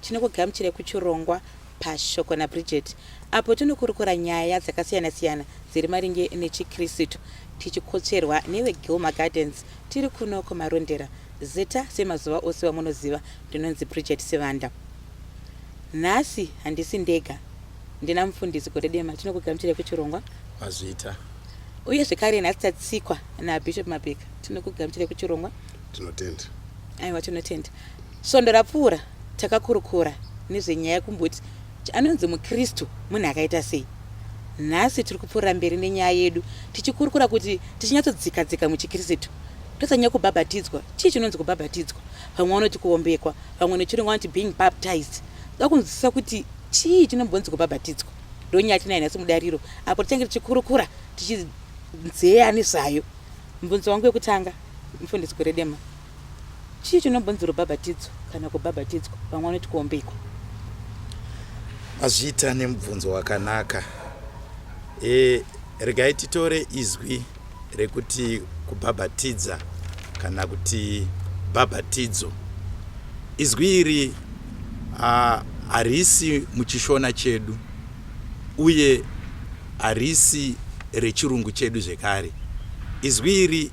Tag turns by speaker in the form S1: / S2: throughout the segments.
S1: Tinokugamuchirai kuchirongwa paShoko naBridget apo tinokurukura nyaya dzakasiyana-siyana dziri maringe nechiKristu tichikotsverwa neveGilma Gardens tiri kuno kuMarondera. Zita semazuva ose wamunoziva ndinonzi Bridget Sivanda. Nhasi handisi ndega ndina mufundisi Godedema tinokugamuchirai kuchirongwa. Mazvita.
S2: Uye
S1: zvekare nhasi tatsikwa naBishop Mapika tinokugamuchirai kuchirongwa. Tinotenda.
S2: Aiwa
S1: tinotenda. Svondo rapfuura takakurukura nezvenyaya yekumboti kuti anonzi muKristu munhu akaita sei. Nhasi tiri kupfuurira mberi nenyaya yedu tichikurukura kuti tichinyatsodzika dzika muchiKristu tosanyanya kubhabhatidzwa. Chii chinonzi kubhabhatidzwa? Vamwe vanoti kuombekwa, vamwe nechirungu vanoti being baptized. Toda kunzwisisa kuti chii chinombonzi kubhabhatidzwa. Ndonyaya tinayo nhasi mudariro apo tichange tichikurukura tichidzeya nezvayo. Mubvunzo wangu wekutanga, mufundisi Gweredema, Chii chinobonzi rubhabhatidzo kana kubhabhatidzwa? Vamwe vanoti kuombekwa.
S2: Mazvita nemubvunzo wakanaka. E, regai titore izwi rekuti kubhabhatidza kana kuti bhabhatidzo. Izwi iri harisi muchishona chedu uye harisi rechirungu chedu zvekare. Izwi iri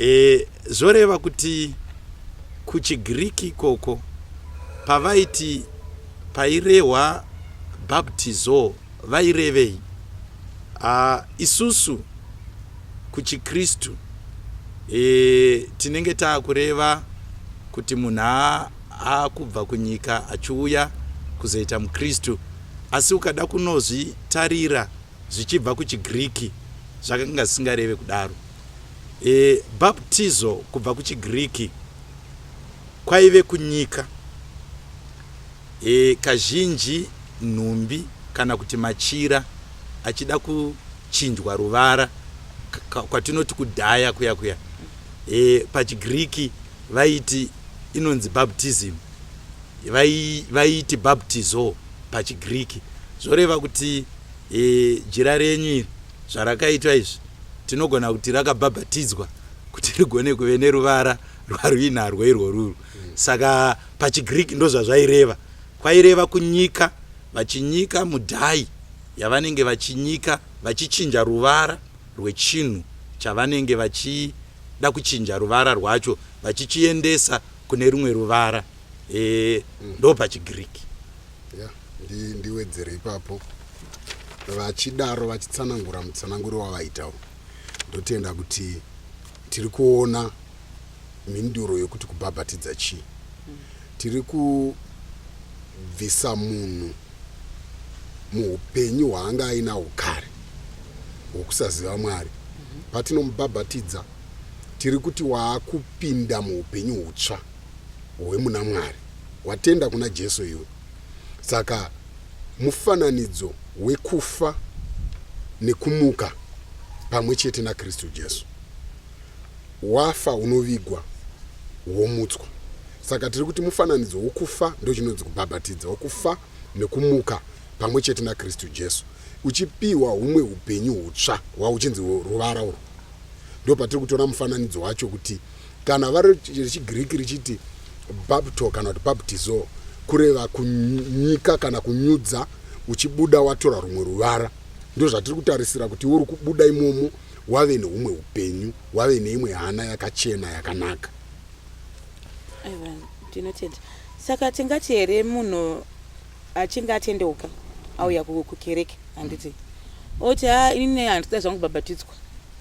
S2: E, zvoreva kuti kuchiGiriki ikoko pavaiti pairehwa baptizo vairevei? A, isusu kuchiKristu e, tinenge taakureva kuti munhu aakubva kunyika achiuya kuzoita muKristu, asi ukada kunozvitarira zvichibva kuchiGiriki zvakanga zvisingareve kudaro. E Baptizo kubva kuchiGiriki kwaive kunyika e kazhinji nhumbi kana kuti machira achida kuchinjwa ruvara kwatinoti kudhaya kuya kuya e pachiGiriki vaiti inonzi baptism vaiiti baptizo pachiGiriki zvoreva kuti e jira renyu iri Zvarakaitwa izvi tinogona kuti rakabhabhatidzwa kuti rigone kuve neruvara rwaruinarwo irworuru. Saka pachiGreek ndozvazvaireva. Kwaireva kunyika, vachinyika mudhai yavanenge vachinyika, vachichinja ruvara rwechinhu chavanenge vachida kuchinja ruvara rwacho, vachichiendesa kune rumwe ruvara. E, ndopachiGreek. yeah, ndi, ndiwedzere
S3: ipapo vachidaro vachitsanangura mutsananguro wavaitawo ndotenda kuti tiri kuona mhinduro yokuti kubhabhatidza chii tiri kubvisa munhu muupenyu hwaanga ainawo kare hwokusaziva mwari patinomubhabhatidza tiri kuti waakupinda muupenyu hutsva hwemuna Mwari. Watenda kuna Jesu iwe. Saka mufananidzo wekufa nekumuka pamwe chete naKristu Jesu. Wafa unovigwa womutswa. Saka tiri kuti mufananidzo wokufa ndochinonzi kubhabhatidza, wokufa nekumuka pamwe chete naKristu Jesu, uchipiwa humwe upenyu hutsva hwauchinzi ruvara urwu. Ndopatiri kutora mufananidzo wacho kuti kana vari rechigriki richiti bapto kana kuti baptizo kureva kunyika kana kunyudza uchibuda watora rumwe ruvara ndozvatiri kutarisira kuti uri kubuda imomo wave neumwe upenyu wave neimwe hana yakachena yakanaka
S1: ndinotenda saka tingati here munhu achinge atendeuka auya kukereke handiti oti ha ini handida zvangu babatidzwa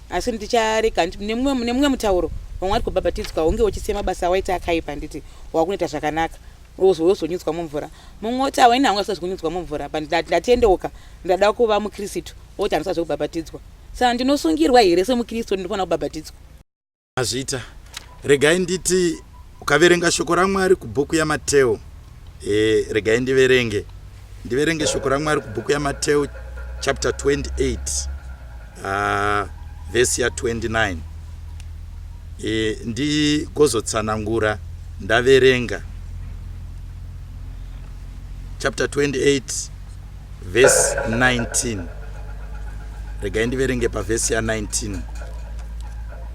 S1: asi ndicharega handiti nemumwe mutauro vamwe vari kubhabhatidzwa unge uchisiya mabasa awaita akaipa handiti wakunoita zvakanaka wozonyudzwa mumvura mumwe oti awaini hangu asina zvekunyudzwa mumvura but ndatendeuka ndada kuva mukristu oti handisa zvekubhabhatidzwa saka ndinosungirwa here semukristu ndinofanira kubhabhatidzwa Azvita.
S2: Regai nditi ukaverenga shoko raMwari kubhuku yaMateo. E, regai ndiverenge. Ndiverenge shoko raMwari kubhuku yaMateo chapter 28 uh, verse ya 29. E, ndigozotsanangura ndaverenga chapter 28 vhesi 19 regai ndiverenge pavhesi ya19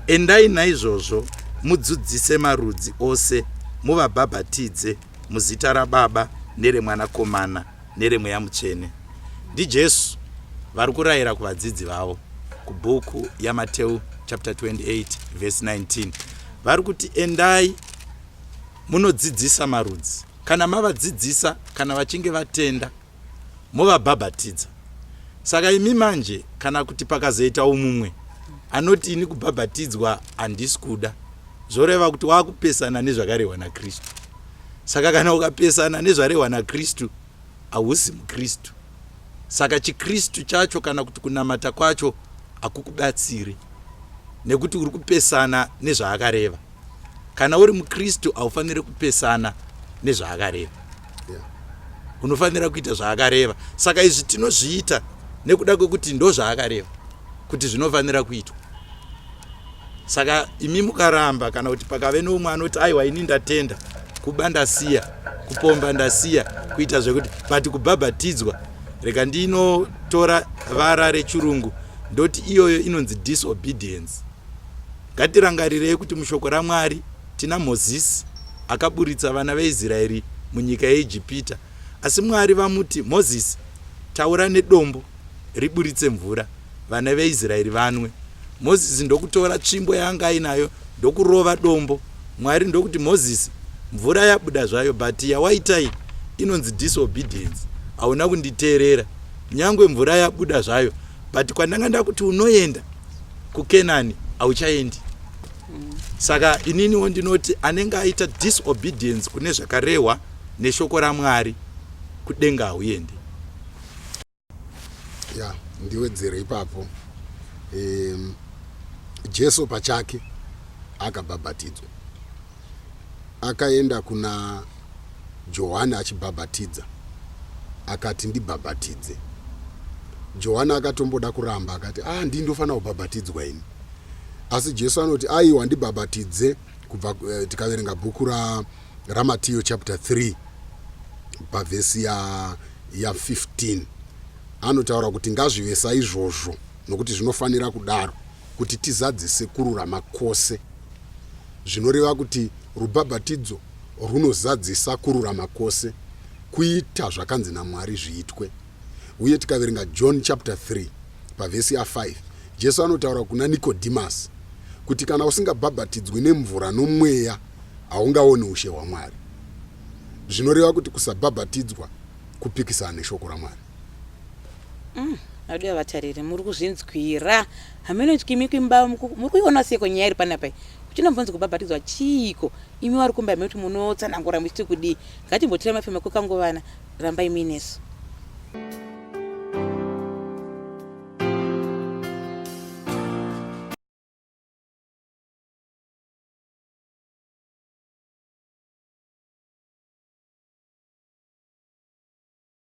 S2: endai naizvozvo mudzudzise marudzi ose muvabhabhatidze muzita rababa neremwanakomana neremweya mutsvene ndijesu vari kurayira kuvadzidzi vavo kubhuku yamateu chapter 28 vhesi 19 vari kuti endai munodzidzisa marudzi Kana mavadzidzisa, kana vachinge vatenda, movabhabhatidza. Saka imi manje, kana kuti pakazoitawo mumwe anoti ini kubhabhatidzwa handisi kuda, zvoreva kuti wakupesana nezvakarehwa naKristu. Saka kana ukapesana nezvarehwa naKristu, hausi muKristu. Saka chiKristu chacho kana kuti kunamata kwacho hakukubatsiri nekuti uri kupesana nezvaakareva. kana uri mukristu haufaniri kupesana nezvaakareva unofanira kuita zvaakareva saka izvi tinozviita nekuda kwekuti ndo zvaakareva kuti zvinofanira kuitwa saka imi mukaramba kana kuti pakave noumwe anoti aiwa ini ndatenda kuba ndasiya kupomba ndasiya kuita zvekuti but kubhabhatidzwa rega ndinotora vara rechirungu ndoti iyoyo inonzi disobedience Ngatirangarirei kuti mushoko raMwari tina Mozisi akaburitsa vana veIsraeri munyika yeIjipita. Asi Mwari vamuti, Mozisi, taura nedombo riburitse mvura, vana veIsraeri vanwe. Mozisi ndokutora tsvimbo yaanga ainayo ndokurova dombo. Mwari ndokuti, Mozisi, mvura yabuda zvayo, but yawaitai inonzi disobedience, hauna kunditeerera. Nyangwe mvura yabuda zvayo, but kwandanga ndakuti unoenda kukenani hauchaendi mm. saka ininiwo ndinoti anenge aita disobedience kune zvakarehwa neshoko ramwari kudenga hauendi ya
S3: yeah, ndiwedzere ipapo um, jesu pachake akabhabhatidzwa akaenda kuna Johani achibhabhatidza, akati, Ndibhabhatidze. Johani akatomboda kuramba, akati, Ah, ndini ndofanira kubhabhatidzwa ini. Asi Jesu anoti, Aiwa, ndibhabhatidze, kubva eh, tikaverenga bhuku ra, raMatiyo chapter 3 pavhesi ya, ya 15 anotaura kuti ngazvive saizvozvo nokuti zvinofanira kudaro kuti tizadzise kururama kwose. zvinoreva kuti rubhabhatidzo rwunozadzisa kururama kwose, kuita zvakanzi naMwari zviitwe. Uye tikaverenga John chapter 3 pavhesi ya 5, Jesu anotaura kuna Nikodhimasi kuti kana usingabhabhatidzwi nemvura nomweya haungaoni ushe hwaMwari. Zvinoreva kuti kusabhabhatidzwa kupikisana neshoko raMwari. Mm, aude
S1: yavatariri muri kuzvinzwira hameno tyimi kwimba muku- muri kuiona seko nyaya iri panapa iyi kuchinombonzi kubhabhatidzwa chiiko imi wari kumba imi kuti munotsanangura muchiti kudii ngatimbotirai mafema kwekangovana rambai muinesu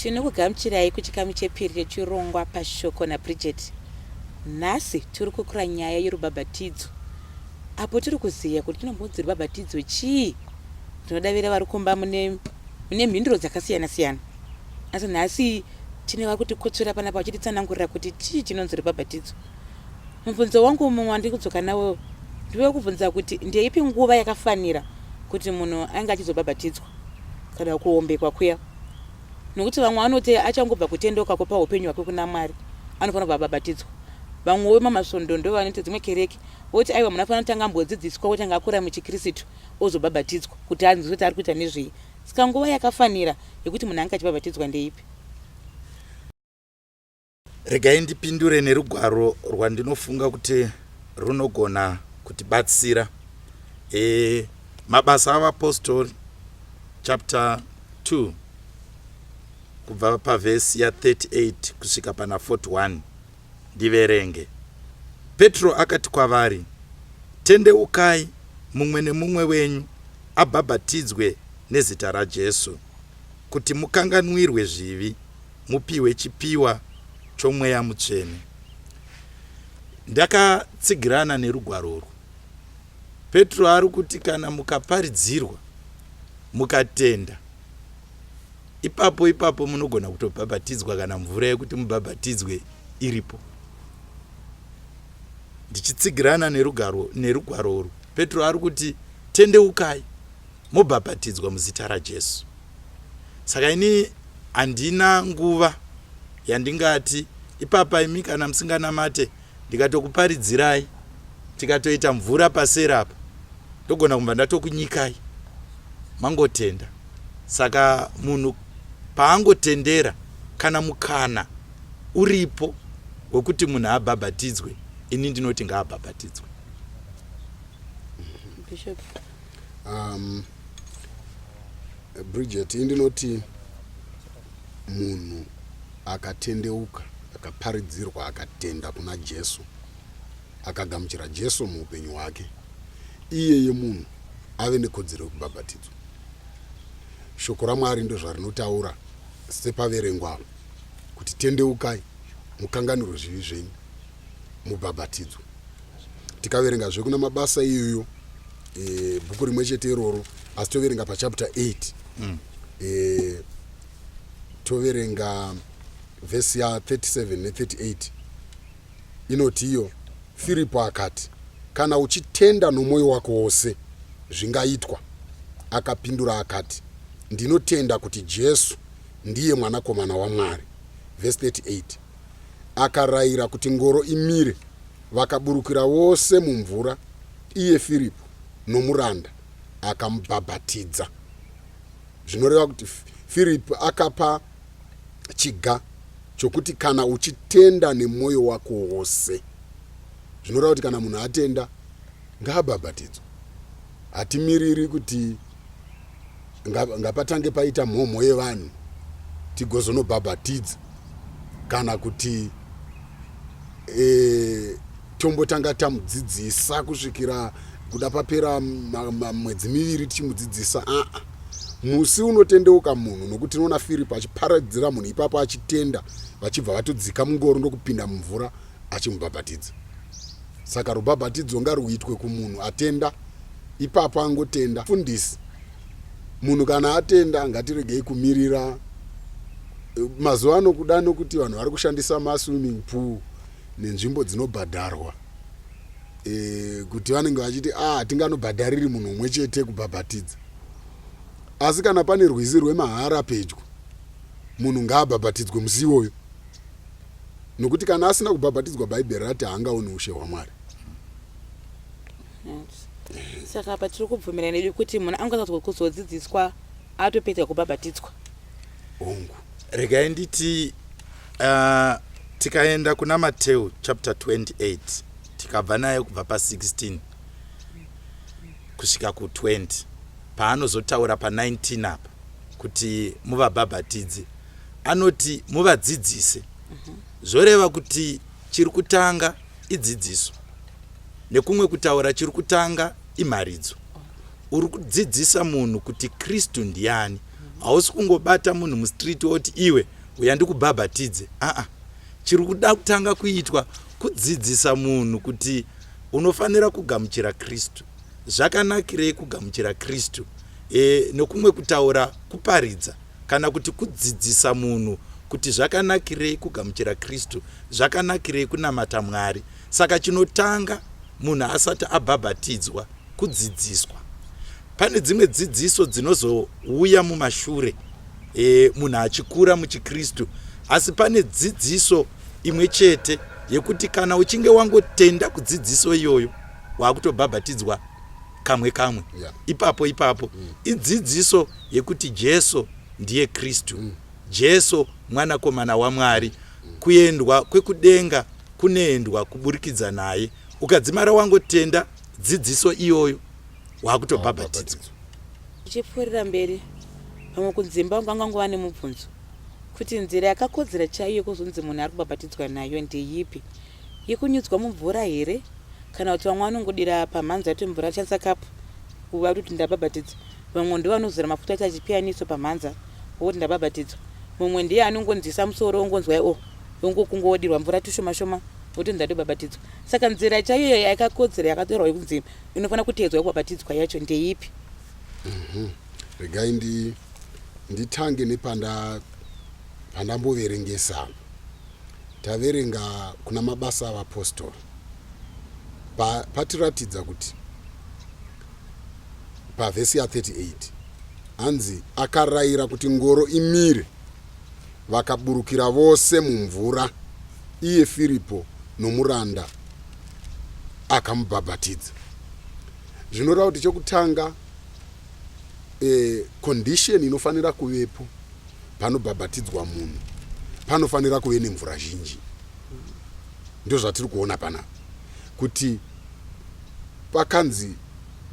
S1: tinokugamuchirai kuchikamu chepiri chechirongwa pashoko nabridget nhasi tiri kukura nyaya yerubhabhatidzo apo tiri kuziva kuti tinombonzi rubhabhatidzo chii tinodavira vari kumba mune mune mhinduro dzakasiyana siyana asi nhasi tine vari kutikotsvera panapa vachititsanangurira kuti chii chinonzi rubhabhatidzo Mubvunzo wangu mumwe wandiri kudzoka nawo ndiwe kubvunza kuti ndeipi nguva yakafanira kuti munhu ainge achizobhabhatidzwa kana kuombekwa kuya nokuti vamwe vanoti achangobva kutendeuka kupa upenyu hwake kuna mwari anofanira kubva abhabhatidzwa vamwe wemamasvondo ndo vanoita dzimwe kereke voti aiwa munhu afanira kutanga ambodzidziswa kuti anga akura muchikristu ozobhabhatidzwa kuti anzwe kuti ari kuita nezvei saka nguva yakafanira yekuti munhu ange achibhabhatidzwa ndeipi
S2: Regai ndipindure nerugwaro rwandinofunga kuti runogona kutibatsira. E, mabasa avapostori chapter 2 kubva pavhesi ya38 kusvika pana 41 ndiverenge petro akati kwavari tendeukai mumwe nemumwe wenyu abhabhatidzwe nezita rajesu kuti mukanganwirwe zvivi mupihwe chipiwa chomweya mutsvene. Ndakatsigirana nerugwaro urwu. Petro ari kuti kana mukaparidzirwa, mukatenda, ipapo ipapo munogona kutobhabhatidzwa kana mvura yekuti mubhabhatidzwe iripo. Ndichitsigirana nerugwaro urwu, Petro ari kuti tendeukai. mobhabhatidzwa muzita raJesu. Saka ini handina nguva yandingati ipapa imi kana musinganamate ndikatokuparidzirai tikatoita mvura paseri apa ndogona kumva ndatokunyikai mangotenda saka munhu paangotendera kana mukana uripo wekuti munhu abhabhatidzwe ini ndinoti ngaabhabhatidzwe
S1: um,
S3: bridget indinoti munhu akatendeuka akaparidzirwa akatenda kuna jesu akagamuchira jesu muupenyu hwake iyeye munhu ave nekodzero yekubhabhatidzwa shoko ramwari ndozvarinotaura sepaverengwa kuti tendeukai mukanganiro zvivi zvenyu mubhabhatidzo tikaverenga zve kuna mabasa iyoyo e, bhuku rimwe chete iroro asi toverenga pachapter 8 mm. e, toverenga vhesi ya 37 ne38 inoti iyo firipo akati kana uchitenda nomwoyo wako wose zvingaitwa akapindura akati ndinotenda kuti jesu ndiye mwanakomana wamwari vhesi 38 akarayira kuti ngoro imire, vakaburukira vose mumvura, iye Firipi nomuranda akamubhabhatidza. Zvinoreva kuti Firipi akapa chiga chokuti kana uchitenda nemwoyo wako wose. Zvinoreva kuti kana munhu atenda, Ngaabhabhatidzwe. Hatimiriri kuti ngapatange paita mhomho yevanhu tigozonobhabhatidza kana kuti e, tombotanga tamudzidzisa kusvikira kuda papera mwedzi miviri tichimudzidzisa aa ah, ah. musi unotendeuka munhu nokuti tinoona firipo achiparadzira munhu ipapo achitenda vachibva vatodzika mungoro ndokupinda mumvura achimubhabhatidza Saka rubhabhatidzo ngaruitwe kumunhu atenda ipapo angotenda. Fundisi, munhu kana atenda ngatiregei kumirira eh, mazuva ano kuda nokuti vanhu vari kushandisa maswimming pool nenzvimbo dzinobhadharwa e, kuti vanenge vachiti a ah, hatinganobhadhariri munhu umwe chete kubhabhatidza asi kana pane rwizi rwemahara pedyo munhu ngaabhabhatidzwe musi iwoyo nokuti kana asina kubhabhatidzwa bhaibheri rati haangaoni ushe hwamwari
S1: saka apa tiri kubvumira nedu kuti munhu angatswa kuzodzidziswa atopedza kubhabhatidzwa hongu
S3: regai
S2: nditi uh, tikaenda kuna mateu chapter 28 tikabva naye kubva pa16 kusvika ku20 paanozotaura pa 19 apa kuti muvabhabhatidze anoti muvadzidzise zvoreva kuti chiri kutanga idzidziso nekumwe kutaura chiri kutanga imharidzo uri kudzidzisa munhu kuti kristu ndiani hausi kungobata munhu mustreet woti iwe uya ndikubhabhatidze aa chiri kuda kutanga kuitwa kudzidzisa munhu kuti unofanira kugamuchira kristu Zvakanakirei kugamuchira Kristu? E, nokumwe kutaura, kuparidza kana kuti kudzidzisa munhu kuti zvakanakirei kugamuchira Kristu, zvakanakirei kunamata Mwari. Saka chinotanga munhu asati abhabhatidzwa kudzidziswa. Pane dzimwe dzidziso dzinozouya mumashure e, munhu achikura muchiKristu, asi pane dzidziso imwe chete yekuti kana uchinge wangotenda kudzidziso iyoyo waakutobhabhatidzwa kamwe kamwe yeah. ipapo ipapo mm. idzidziso yekuti jesu ndiye kristu mm. jesu mwanakomana wamwari mm. kuendwa kwekudenga kunoendwa kuburikidza naye ukadzimara wangotenda dzidziso iyoyo waakutobhabhatidzwa
S1: ichipfuurira mberi vamwe kudzimba vangu vanga ngova nemubvunzo kuti nzira yakakodzera chaiyo kuzonzi munhu ari kubhabhatidzwa nayo ndeyipi yekunyudzwa mumvura here kana kuti vamwe vanongodira pamhanza yoti mvura achanisa kapu kuva kuti ndabhabhatidzwa vamwe ndivo vanozora mafuta ati achipiyaniso pamhanza wokuti ndabhabhatidzwa mumwe ndiye anongonzisa musoro ongonzwai o oh, ongokungo wodirwa mvura tushoma shoma wokuti ndatobhabhatidzwa saka nzira chaiyo yakakodzera yakatorwa yekunzi inofanira kuteedzwa yekubhabhatidzwa yacho ndeipi mhm. regai
S3: ndi nditange nepanda pandamboverengesa Taverenga kuna Mabasa aVapostori pa, patiratidza kuti pavhesi ya 38 hanzi akarayira kuti ngoro imire vakaburukira vose mumvura iye firipo nomuranda akamubhabhatidza zvinoreva kuti chekutanga e, condition inofanira kuvepo panobhabhatidzwa munhu panofanira kuve nemvura zhinji. Ndozvatiri kuona panapa kuti pakanzi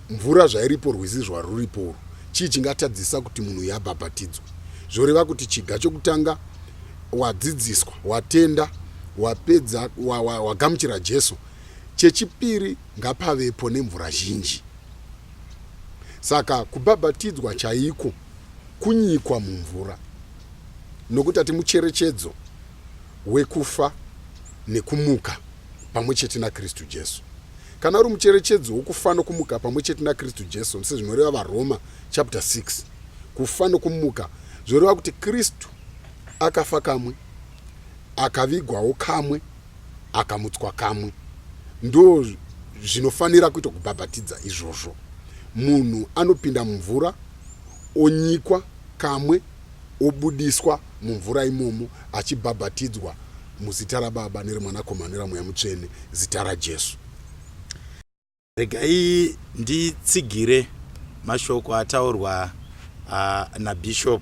S3: mvura zvairipo rwizi zvaruripo urwu chii chingatadzisa kuti munhu uyu abhabhatidzwe zvoreva kuti chiga chokutanga wadzidziswa watenda wapedza wagamuchira wa, wa jesu chechipiri ngapavepo nemvura zhinji saka kubhabhatidzwa chaiko kunyikwa mumvura nokuti ati mucherechedzo wekufa nekumuka pamwe chete naKristu Jesu. Kana uri mucherechedzo wokufa nokumuka pamwe chete naKristu Jesu, sezvinoreva vaRoma chapter 6, kufa nokumuka zvoreva kuti Kristu akafa kamwe, akavigwawo kamwe, akamutswa kamwe. Ndo zvinofanira kuita kubhabhatidza izvozvo. Munhu anopinda mumvura, onyikwa kamwe, obudiswa mumvura imomo, achibhabhatidzwa muzita raBaba, nereMwanakomana, neraMweya Mutsvene, zita raJesu. Regai
S2: nditsigire mashoko ataurwa uh, nabishop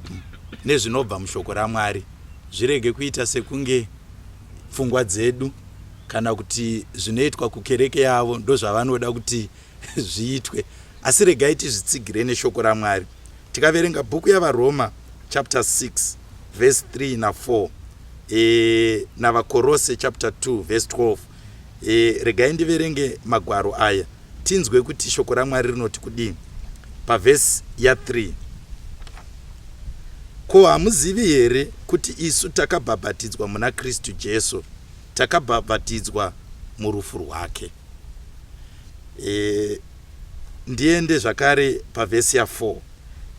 S2: nezvinobva mushoko ramwari zvirege kuita sekunge pfungwa dzedu kana kuti zvinoitwa kukereke yavo ndozvavanoda kuti zviitwe asi regai tizvitsigire neshoko ramwari tikaverenga bhuku yavaroma chapter 6 verse 3 na4 e, navakorose chapter 2 verse 12 E, regai ndiverenge magwaro aya tinzwe kuti shoko ramwari rinoti kudii pavhesi ya3 ko hamuzivi here kuti isu takabhabhatidzwa muna kristu jesu takabhabhatidzwa murufu rwake e, ndiende zvakare pavhesi ya4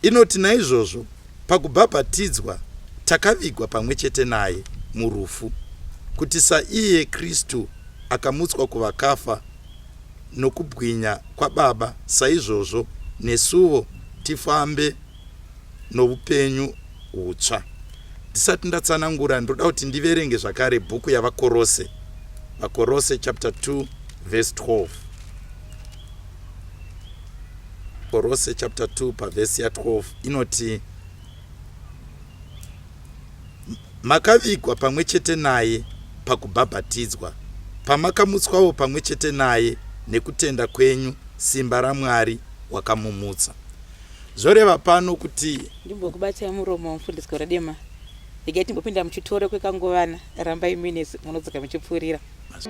S2: inoti naizvozvo Pakubhabhatidzwa, takavigwa pamwe chete naye murufu, kuti saiye Kristu akamutswa kuvakafa nokubwinya kwaBaba, saizvozvo nesuvo tifambe noupenyu hutsva. Ndisati ndatsanangura, ndoda kuti ndiverenge zvakare bhuku yaVaKorose, Vakorose chapter 2 verse 12. korose chapter 2 pavhesi ya12 inoti makavigwa pamwe chete naye pakubhabhatidzwa pamakamutswawo pamwe chete naye nekutenda kwenyu simba ramwari wakamumutsa zvoreva pano kuti ndimbokubatai muromo
S1: mufundisi goradema regai timbopinda muchitoro kwekanguvana rambai mines munodzoka muchipfuurira Mas...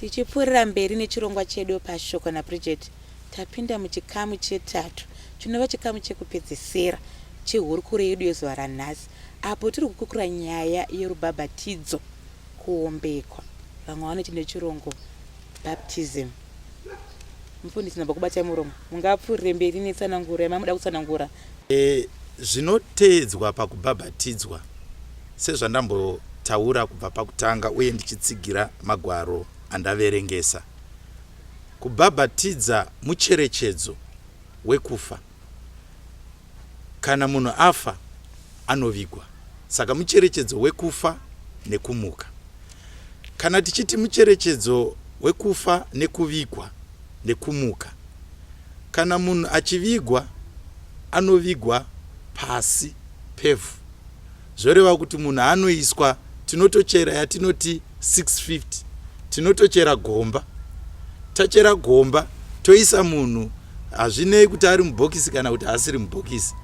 S1: tichipfuurira mberi nechirongwa chedu pashoko nabridget tapinda muchikamu chetatu chinova chikamu chekupedzisira chehurukuro yedu yezuva ranhasi apo tiri kukukura nyaya yerubhabhatidzo kuombekwa vamwe vanoti nechirongo baptism mufundisi namba kubatai muromo mungapfuurire mberi netsananguro yamamuda kutsanangura e, zvinoteedzwa
S2: pakubhabhatidzwa sezvandambotaura kubva pakutanga uye ndichitsigira magwaro andaverengesa kubhabhatidza mucherechedzo wekufa Kana munhu afa anovigwa, saka mucherechedzo wekufa nekumuka. Kana tichiti mucherechedzo wekufa nekuvigwa nekumuka, kana munhu achivigwa anovigwa pasi pevhu. Zvoreva kuti munhu anoiswa tinotochera yatinoti 650 tinotochera gomba tachera gomba toisa munhu hazvinei kuti ari mubhokisi kana kuti asiri mubhokisi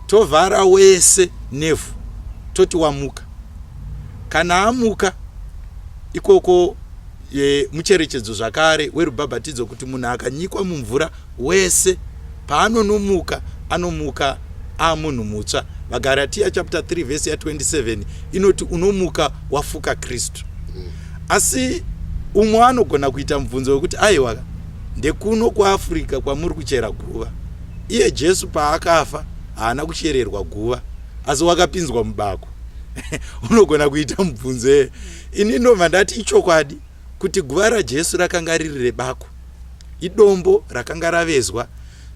S2: tovhara wese nevhu toti wamuka kana amuka ikoko e, mucherechedzo zvakare werubhabhatidzo kuti munhu akanyikwa mumvura Wese paanonomuka, anomuka aamunhu mutsva. VaGaratiya chapter 3 vhesi ya 27 inoti unomuka wafuka Kristu. Asi umwe anogona kuita mubvunzo wekuti aiwa ndekuno kuafrica kwamuri kuchera guva iye jesu paakafa haana kuchererwa guva asi wakapinzwa mubako unogona kuita mubvunzo eye ini ndobva ndati ichokwadi kuti guva raJesu rakanga riri rebako, idombo rakanga ravezwa,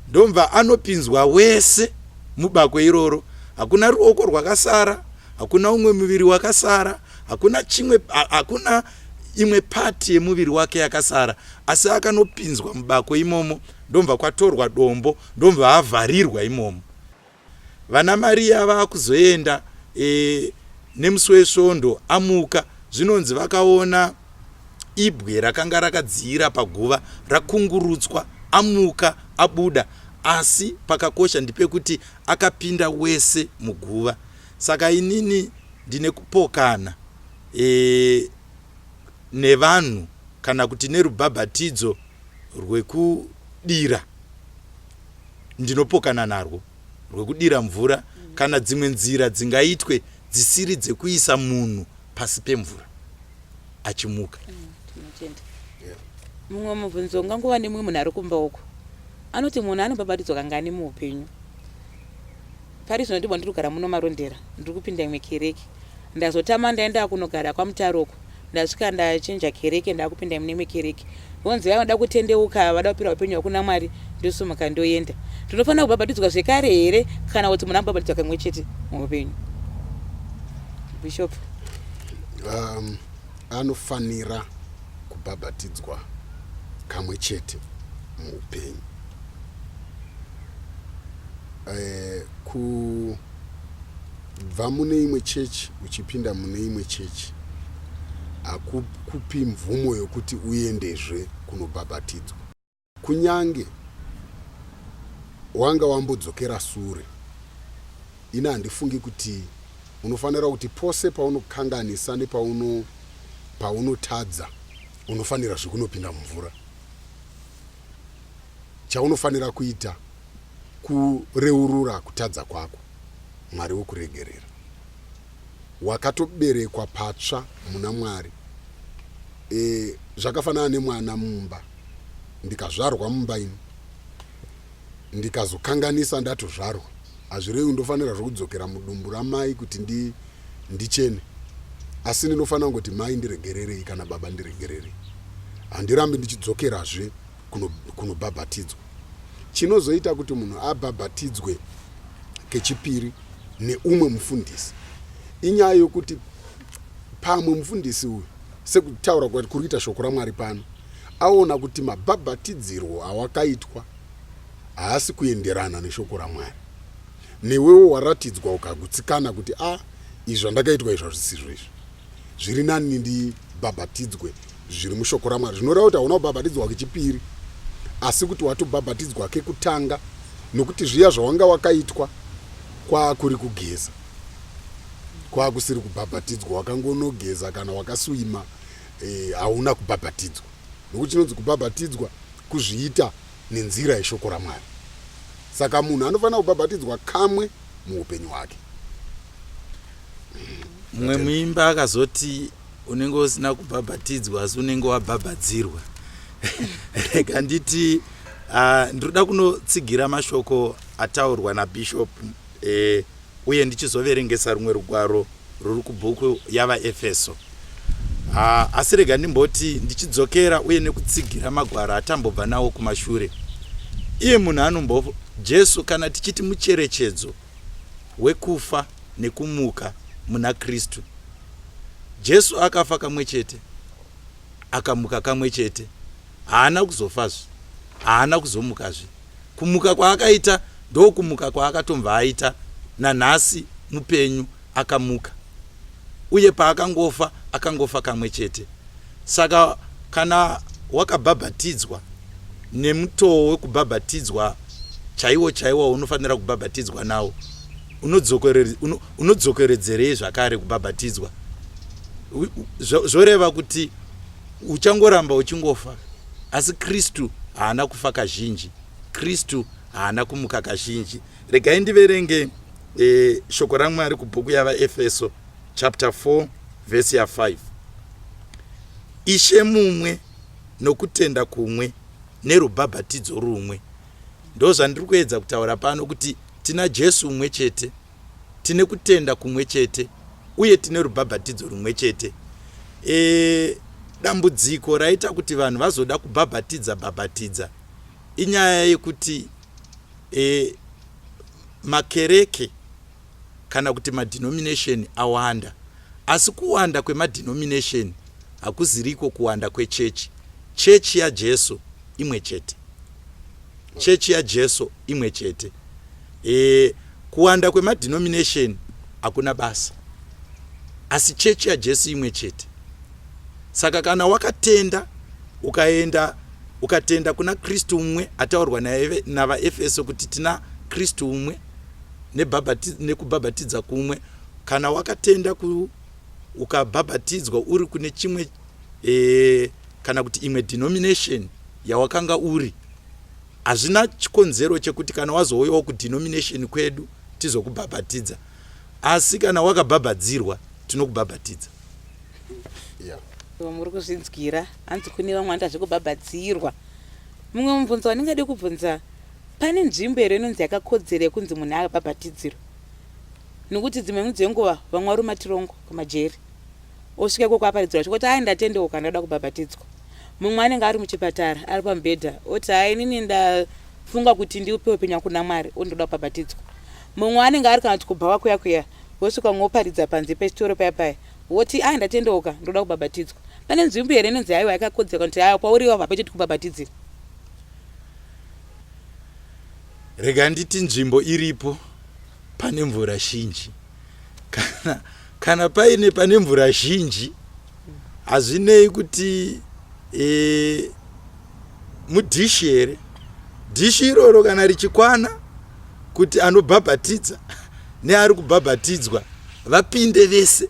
S2: ndomva anopinzwa wese mubako iroro. Hakuna ruoko rwakasara, hakuna umwe muviri wakasara, hakuna chimwe, hakuna imwe pati yemuviri wake yakasara, asi akanopinzwa mubako imomo, ndomva kwatorwa dombo, ndomva avharirwa imomo. Vana Maria vakuzoenda e, nemusi wesvondo amuka zvinonzi vakaona ibwe rakanga rakadziira paguva rakungurutswa amuka abuda asi pakakosha ndipekuti akapinda wese muguva saka inini ndine kupokana e, nevanhu kana kuti nerubhabhatidzo rwekudira ndinopokana narwo rwekudira mvura kana dzimwe nzira dzingaitwe dzisiri dzekuisa munhu pasi pemvura achimuka
S1: mumwe mubvunzo ungangova nemumwe munhu ari kumba uko anoti munhu anobabatidzwa kangani muupenyu pari zvino ndibwa ndiri kugara muno marondera ndiri kupinda imwe kereke ndazotama ndaenda kunogara kwamutaro uko ndasvika ndachinja kereke ndakupinda mune imwe kereke vonzi vaya vanoda kutendeuka vada kupira upenyu hwakuna mwari ndosumuka ndoenda ndinofanira kubhabhatidzwa zvekare here kana kuti munhu ambhabhatidzwa kamwe chete muupenyu bishop um,
S3: anofanira kubhabhatidzwa kamwe chete muupenyu eh, ku Kubva mune imwe chechi uchipinda mune imwe chechi hakukupi mvumo yokuti uendezve kunobhabhatidzwa. Kunyange wanga wambodzokera sure, ini handifungi kuti unofanira kuti pose paunokanganisa nepauno paunotadza unofanira zvekunopinda mumvura. Chaunofanira kuita kureurura kutadza kwako. Mwari wekuregerera. Wakatoberekwa patsva muna Mwari. E, zvakafanana nemwana mumba. Ndikazvarwa mumba ini. Ndikazokanganisa ndatozvarwa. Hazvirevi ndofanira zvokudzokera mudumbu ramai kuti ndi, ndichene. Asi ndinofanira kungoti mai ndiregererei kana baba ndiregererei. Handirambi ndichidzokerazve. kunobhabhatidzwa kuno chinozoita kuti munhu abhabhatidzwe kechipiri neumwe mufundisi inyaya yokuti pamwe mufundisi uyu sekutaura kuri kuita shoko ramwari pano aona kuti mabhabhatidzirwo awakaitwa haasi kuenderana neshoko ramwari newewo waratidzwa ukagutsikana kuti a ah, izvi zvandakaitwa izvi hazvisizvo izvi zviri nani ndibhabhatidzwe zviri mushoko ramwari zvinoreva kuti hauna kubhabhatidzwa kechipiri asi kuti watobhabhatidzwa kekutanga nokuti zviya zvawanga wakaitwa kwaakuri kugeza kwaakusiri kubhabhatidzwa wakangonogeza kana wakaswima eh, hauna e, kubhabhatidzwa nokuti chinonzi kubhabhatidzwa kuzviita nenzira yeshoko raMwari. Saka munhu anofanira kubhabhatidzwa kamwe muupenyu hwake.
S2: Mumwe
S3: muimba
S2: akazoti unenge usina kubhabhatidzwa asi unenge wabhabhadzirwa. Rega nditi uh, ndinoda kunotsigira mashoko ataurwa naBishop E, uye ndichizoverengesa rumwe rugwaro ruri kubhuku yavaefeso ha, asi rega ndimboti ndichidzokera uye nekutsigira magwaro atambobva nawo kumashure iye munhu anombo jesu kana tichiti mucherechedzo wekufa nekumuka muna kristu jesu akafa kamwe chete akamuka kamwe chete haana kuzofazve haana kuzomukazve kumuka kwaakaita ndokumuka kwaakatomva aita nanhasi mupenyu akamuka uye paakangofa akangofa kamwe chete saka kana wakabhabhatidzwa nemutoo wekubhabhatidzwa chaiwo chaiwo unofanira kubhabhatidzwa nawo unodzokeredzerei zvakare kubhabhatidzwa zvoreva kuti uchangoramba uchingofa asi kristu haana kufa kazhinji kristu haana kumuka kazhinji regai ndiverenge e, shoko ramwari kubhuku yavaefeso chapter 4 vhesi ya 5 ishe mumwe nokutenda kumwe nerubhabhatidzo rumwe ndozvandiri kuedza kutaura pano kuti tina jesu umwe chete tine kutenda kumwe chete uye tine rubhabhatidzo rumwe chete e, dambudziko raita kuti vanhu vazoda kubhabhatidza bhabhatidza inyaya yekuti e, makereke kana kuti madenomination awanda asi kuwanda kwemadenomination hakuziriko kuwanda kwechechi chechi yajesu imwe chete Chechi yaJesu imwe chete. E, kuwanda kwemadhinominesheni hakuna basa, asi chechi yaJesu imwe chete. Saka kana wakatenda ukaenda ukatenda kuna Kristu umwe ataurwa naye navaEfeso kuti tina Kristu umwe nekubhabhatidza kumwe, kana wakatenda ku ukabhabhatidzwa uri kune chimwe e, kana kuti imwe denomination yawakanga uri hazvina chikonzero chekuti kana wazouyawo kudenomination kwedu tizokubhabhatidza asi kana wakabhabhadzirwa tinokubhabhatidza
S1: yeah. muri kuzvinzwira hanzi kune vamwe vanoita zvekubhabhadzirwa mumwe mubvunzo wandingade kubvunza pane nzvimbo here inonzi yakakodzera yekunzi munhu akabhabhatidzirwa nokuti dzimwe mudzenguva vamwe varumatirongwa kumajeri Osvika ikoko aparidzirwa chokuti hai ndatendeuka ndoda kubhabhatidzwa. Mumwe anenge ari muchipatara ari pamubhedha oti hai inini ndafunga kuti ndiupe upenyu wangu kuna Mwari oti ndoda kubhabhatidzwa. Mumwe anenge ari kana kuti kubhawa kuya kuya wosvika umwe woparidza panze pechitoro paya paya woti hai ndatendeuka ndoda kubhabhatidzwa. Pane nzvimbo here inonzi haiwa yakakodzera kuti haya kwauri iwapo hapachiti kubhabhatidzira?
S2: Rega nditi nzvimbo iripo pane mvura zhinji. kana, kana paine pane mvura zhinji hazvinei kuti e, mudhishi here dhishi iroro kana richikwana kuti anobhabhatidza neari kubhabhatidzwa vapinde vese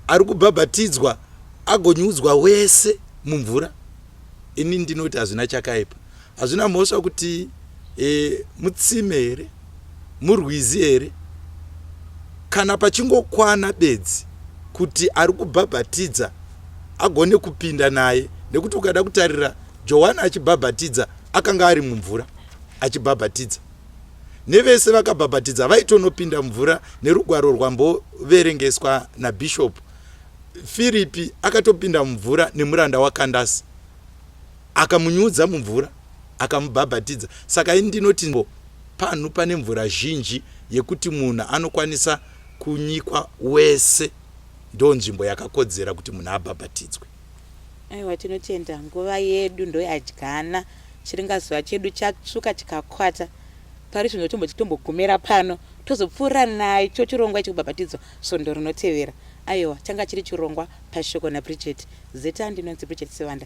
S2: ari kubhabhatidzwa agonyudzwa wese mumvura ini ndinoti hazvina chakaipa Hazvina mhosva kuti e, mutsime here murwizi here kana pachingokwana bedzi kuti ari kubhabhatidza agone kupinda naye nekuti ukada kutarira johani achibhabhatidza akanga ari mumvura achibhabhatidza nevese vakabhabhatidza vaitonopinda mvura nerugwaro rwamboverengeswa nabishopu firipi akatopinda mumvura nemuranda wakandasi Akamunyudza mumvura, akamubhabhatidza. Saka ini ndinoti nzvimbo panhu pane mvura zhinji yekuti munhu anokwanisa kunyikwa wese ndonzvimbo yakakodzera kuti munhu abhabhatidzwe. Aiwa,
S1: tinotenda nguva yedu ndoyadyana. Chiringazuva chedu chatsvuka chikakwata. Pari zvino tomboti tombogumira pano tozopfuura nacho chirongwa chekubhabhatidzwa svondo rinotevera. Aiwa, changa chiri chirongwa paShoko naBridget. Zita ndinonzi Bridget Sivanda.